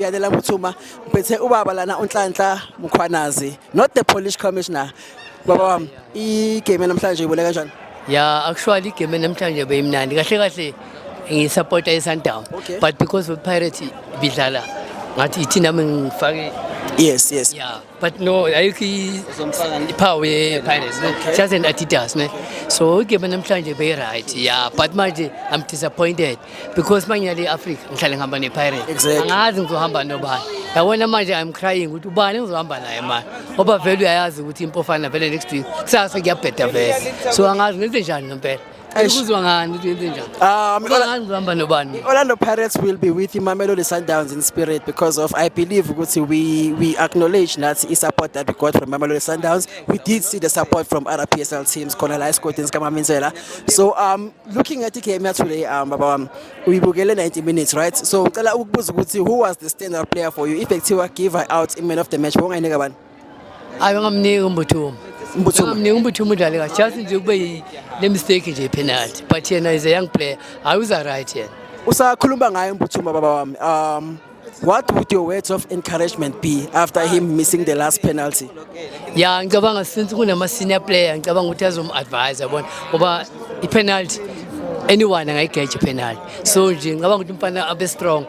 Yalela Muthuma ngiphethe ubaba lana uNhlanhla Mkhwanazi not the Polish commissioner baba wami igame namhlanje ibone kanjani ya actually igame namhlanje beyimnandi kahle kahle ngisupporta iSundowns Okay. but because of Pirates bidlala ngathi ithina mina ngifake yes yes ya but no ayikho iphawu ye-pirates just an adidas ne so igame namhlanje beyi-right ya but manje i'm disappointed because uma ngiyale i-africa ngihlale ngihamba ne-pirates angazi ngizohamba nobani yabona manje i'm crying ukuthi ubani ngizohamba naye manje ngoba vele uyayazi ukuthi impofana vele next week kusasa kuyabheda vele so angazi ngenze njani ngempela Eish. Kuzwa ngani ukuthi yenze njani? Ah, um, Kuzwa Ola- ngani kuhamba nobani? Orlando Pirates will be with Imamelodi Sundowns in spirit because of I believe ukuthi we we acknowledge that the support that we got from Imamelodi Sundowns. We did see the support from other PSL teams, khona la esigodini sikaMamenzela. So um looking at the game ya today um baba wami uyibukele 90 minutes right? So ngicela ukubuza ukuthi who was the standout player for you? If ekuthiwa give her out in man of the match, wongayinika bani? hayi ungamniki umbuthumo ungamniki umbuthumo udlale kahle just nje kube le mistake nje penalty but yena is a young player hayi uza right yena usakhuluma ngaye umbuthumo baba wami um what would your words of encouragement be after him missing the last penalty ya ngicabanga since kunama senior player ngicabanga ukuthi azom advise yabona ngoba i penalty anyone angayigeja penalty so nje ngicabanga ukuthi umfana abe strong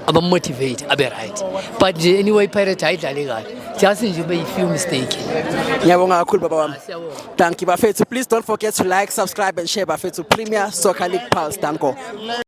abamotivate abe right but nje anyway pirate ayidlale kahle just nje ube yi-few mistake ngiyabonga kakhulu baba wami danki bafethu please don't forget to like subscribe and share bafethu premier soccer league pulse danko